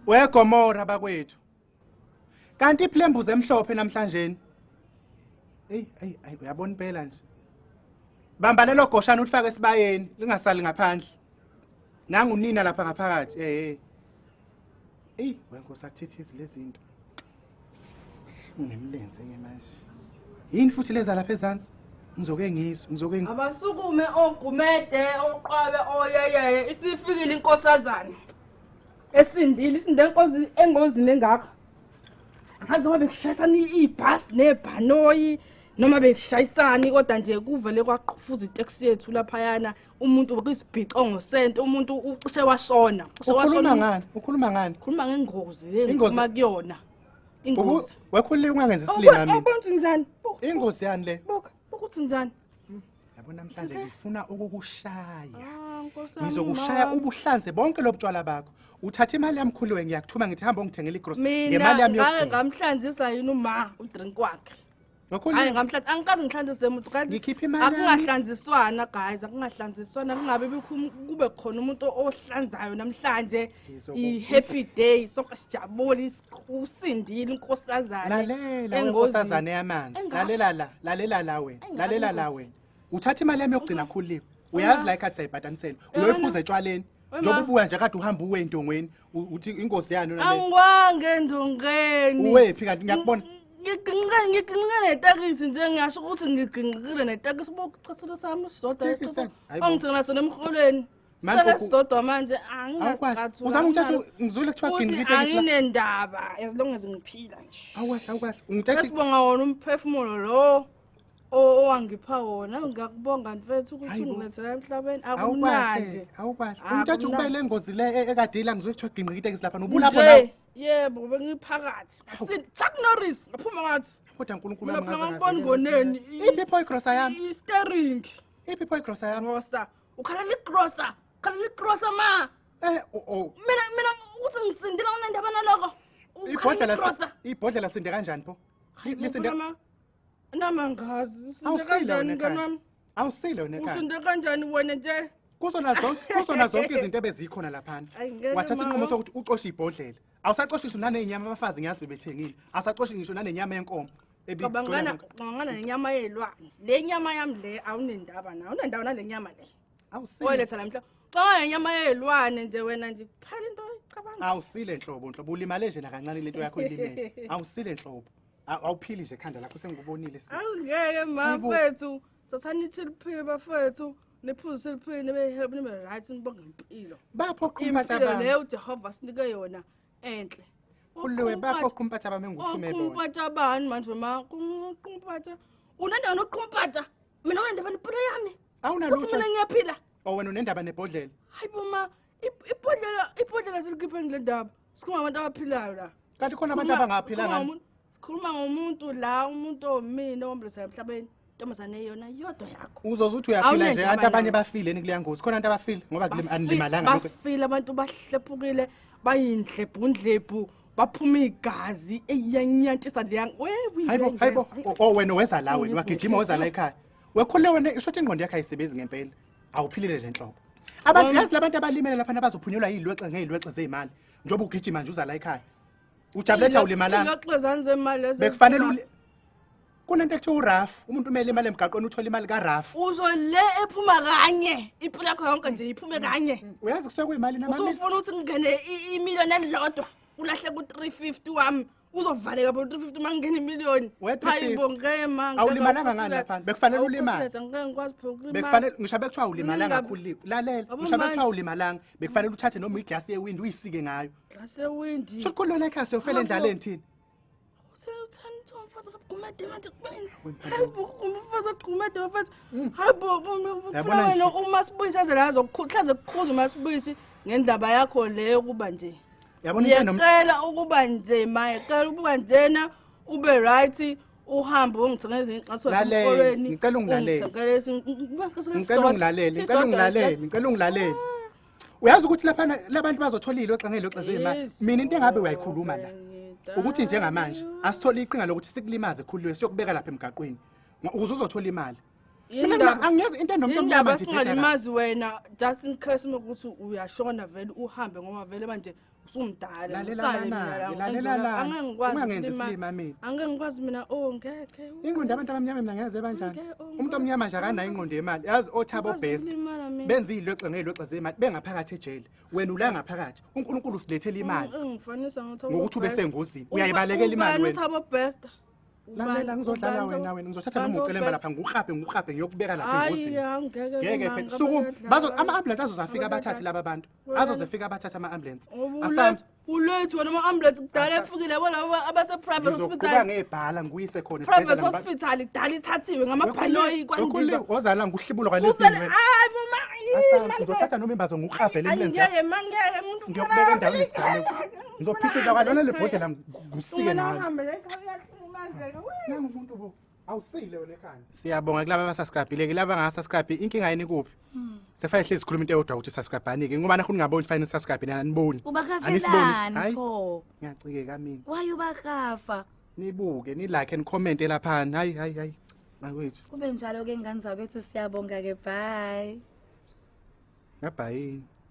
WeGomora bakwethu. Kanti iphlembuze emhlophe namhlanje. Ey ey ay uyabona impela nje. Bamba lelo goshana ulifake esibayeni lingasali ngaphandle. Nangu nina lapha ngaphakathi eh. Ey wenkosi akuthithizi lezinto. Ungemlenze ke manje. Yini futhi leza lapha ezansi? Ngizoke ngizwe, ngizoke ngi Abasukume ogumede oqwabe oyeyeye isifikile inkosazana. Esindile isinde enkozi engozini engaka. Angazi noma bekushayisana ibhasi nebhanoyi noma bekushayisani kodwa nje kuvele kwaqfuza itaxi yethu laphayana umuntu kwisibhicongo sento umuntu ucishe washona ucishe ukhuluma washona ngani ukhuluma ngani khuluma ngengozi Ingozi. yengikhuluma kuyona Ubu- ingozi wekhulile ungangenzi isilima mina awubantu njani Buka, ingozi yani le buka buka uthi njani yabo namhlanje ngifuna ukukushaya Ah, Nkosi yami, ngizokushaya mama. ubuhlanze bonke lobutshwala bakho uthatha imali yami khuluwe ngiyakuthuma ngithi hamba ungithengela igrocery mina ngemali yami ngake yokugcina ngamhlanzisa yini uma udrink wakhe Ngakho hayi ngamhlanza angikaze ngihlanziswe umuntu kazi Ngikhiphe imali yami. akungahlanziswana guys akungahlanziswana kungabe bikhu- kube khona umuntu ohlanzayo namhlanje Ngizoku- i-happy day sonke sijabule is- usindile unkosazane lalela engozini. wenkosazane yamanzi Enga- lalela la lalela la wena Enga- lalela la engozi. wena uthatha imali yami yokugcina khuliwe uyazi la ikhathi sayibhadanisela Yabona? uyoyiphuza etshwaleni njengoba ubuya nje kade uhamba uwe endongweni uthi ingozi yani nale angwange endongeni uwephi kanti ngiyakubona ngigingqile ngigingqile netakisi nje ngiyasho ukuthi ngigingqile netakisi bokuchathula sami sodwa ongithengela sona emholweni sele sodwa manje angingasiqathu uzama ukuthatha ngizwile kuthiwa gingqile itakisi anginendaba as long as ngiphila nje awukahle awukahle ungithatha sibonga wona umphefumulo lo O- owangipha wona ngiyakubonga mfethu ukuthi Hayi bo. ungilethela emhlabeni akumnandi awukahle awukahle Ah, umthatha kumnandi. ukubele engozi le e- ekade ila ngizwe kuthiwa gingqika itekisi lapha nobulapho Nje, nawe yebo bengiphakathi Hawu. Sin- chuck norris ngaphuma ngathi kodwa nkulunkulu mina wami phela ngaze ngakubona ngavele ngoneni ngasini. iphi pho igrosa yami istering iphi pho igrosa yami grosa ukhalela igrosa ukhalela igrosa ma eh o- o mina mina ukuthi ngisindile unendaba naloko ukhalela ibhodlela igrosa si- ibhodlela sinde kanjani pho Li- lisinde Ngifuna ma- Nami angazi. Usinde Awusile kanjani wena mngani ekhaya. wami? Awusile wena ekhaya. Usinde kanjani wena nje? Kuzona zonke kuzona zonke izinto ebezikhona laphana. Ayi, ngeke Wathatha mama. inqumo sokuthi ucoshe ibhodlela. Awusacoshi ngisho nanenyama abafazi ngiyazi bebethengile. Awusacoshi ngisho nanenyama yenkomo. ebi- Cabangana cabangana nenyama yelwane. Le nyama yami le awunendaba nayo. Awunendaba nale nyama le. Awusile. Oletha la mhla. Cabanga nenyama yelwane nje wena nje. Phela into oyicabanga. Awusile nhlobo nhlobo ulimale nje nakancane lento yakho ilimele. Awusile nhlobo. Aw- awuphili nje ekhanda lakho sengikubonile sis. awungeke ma Kubo- fethu thathani ithi liphile bafethu niphuze liphile nibe help nibe right nibonge impilo bapho qumpatha impilo bami leyo ujehova sinike yona entle uliwe bapho qumpatha bami enguthume bona oqumpata bani manje ma qumpata unendaba noqumpata mina unendaba nempilo yami uthi awunalutho mina ngiyaphila o wena unendaba nebhodlela hayi bo ma ip- ibhodlela ibhodlela zilikhiphe ngile ndaba sikhuluma ngabantu abaphilayo la kanti khona abantu abangaphilanga sikhuluma ngomuntu la umuntu omini owambulisayo emhlabeni ntombazane yona yodwa yakho uzoze uthi uyaphila nje abantu abanye bafile ni kuleya ngozi khona abantu abafile ngoba anilimalanga bafile abantu bahlephukile bayindlebhu ndlebhu baphuma igazi eyanyantisa leya hayibo hayibo oh, oh, wena weza la wena wagijima weza la ekhaya wekhole wena isho ukuthi ingqondo yakhe ayisebenzi ngempela awuphilile nje nhlobo abantu yazi labantu abalimele lapha abazophunyelwa yilwexe ngeyilwexe zezimali njengoba ugijima nje uza la ekhaya ujabuletha ulimalanga ilwexe zanzemali lezi bekufanele uli- kunento ekuthiwa uraf umuntu umele imali emgaqweni uthole imali karaf uzo le ephuma kanye impilo yakho yonke nje iphume kanye uyazi kusuke kuyimali namamili usufuna ukuthi kungene i- imiliyoni elilodwa ulahle ku-350 wami uzovaleka bo 350 mangena imillion hayibo ngeke manga awulimalanga ngani lapha bekufanele ulimale ngeke ngikwazi phela ukulima bekufanele ngisho bekuthiwa ulimalanga khulile lalela ngisho bekuthiwa ulimalanga bekufanele uthathe noma iglass yewind uyisike ngayo glass yewind sho khulilo la ekhaya siyofela endlaleni thina uthanda umfazi akagumede manje kubeni hayibo umfazi agumede mfazi mm. hayibo yabona uma sibuyisa zela azokukhuhlaza kukhuzwa uma sibuyisi ngendaba yakho leyo kuba nje yabona into enom- ngiyacela ukuba nje maye cela ukuba njena ube right uhambe ungithengele ezinye ixaso Lalele, emkolweni ngicela ungilalele. ungithengele ezinye- ngicela sisodwa- ungilalele ngicela sisodwa ungilalele nje. ngicela ungilalele uyazi ukuthi laphana labantu bazotholile oxangele oxezo imali Yes. mina into engabe uyayikhuluma la Ngidala. ukuthi njengamanje asithole iqhinga lokuthi sikulimaze khululwe siyokubeka lapha emgaqweni Ngo- ukuze uzothola imali Mina Yini ngima- ndaba- angiyazi into enomntu yini omnyama ndaba nje, Dedala. singalimazi wena just in case uma kuthi uyashona vele uhambe ngoba vele manje usumdala Lalela usale lana, mina la, lalela Angela, lana. angeke ngikwazi Ungangenzi ukulima- isilima mina. angeke ngikwazi mina oh ngeke ingqondo yabantu abamnyama mina ngeze banjani Ngeke, oh, umuntu omnyama nje akanayo ingqondo yemali yazi othabo Ngikwazi best ukulimala mina. benza iy'lwexe ngey'lwexe zemali bengaphakathi ejele wena ula ngaphakathi unkulunkulu usilethela imali Ungi- ungifanisa ngokuthi Thabo ube Best. sengozini. Uba- Uyayibalekela imali ubani wena? Thabo Best lalela ngizodlala wena wena ngizothatha noma ucelemba lapha ngikukrabhe ngikukrabhe ngiyokubeka lapha engozini ngeke phela suku bazo ama ambulance azozafika abathathe laba bantu azozefika abathathe ama ambulance asantu ulethu wena ama ambulance kudala efikile yabo labo abase private hospital ngizokubanga ebhala nguyise khona private hospital kudala ithathiwe ngamabhanoyi kwandiza ozala nguhlibulo kwalesini wena hayi mama ngizothatha noma imbazo ngikukrabhe le ambulance ngeke mangeke umuntu ngiyokubeka endaweni ngizophikiza kwalona le bhodlela Kusike nawe. Uhambe lekhaya uyahlumazeka. Nangu umuntu bo. Awusile wena ekhanda. Siyabonga kulabo abasubscribe-ile kulabo abangasubscribe inkinga yini kuphi? Hmm. Sefane hlezi sikhuluma into eyodwa ukuthi subscribe-ani ke ngoba nakho ningaboni ukuthi fanele subscribe nina aniboni. Ubakafelani pho? Ngiyacikeka mina. Waye ubakafa. Nibuke, ni like and comment lapha. Hayi hayi hayi. Makwethu. Kube njalo ke ngane zakwethu siyabonga ke bye. Ngabhayi.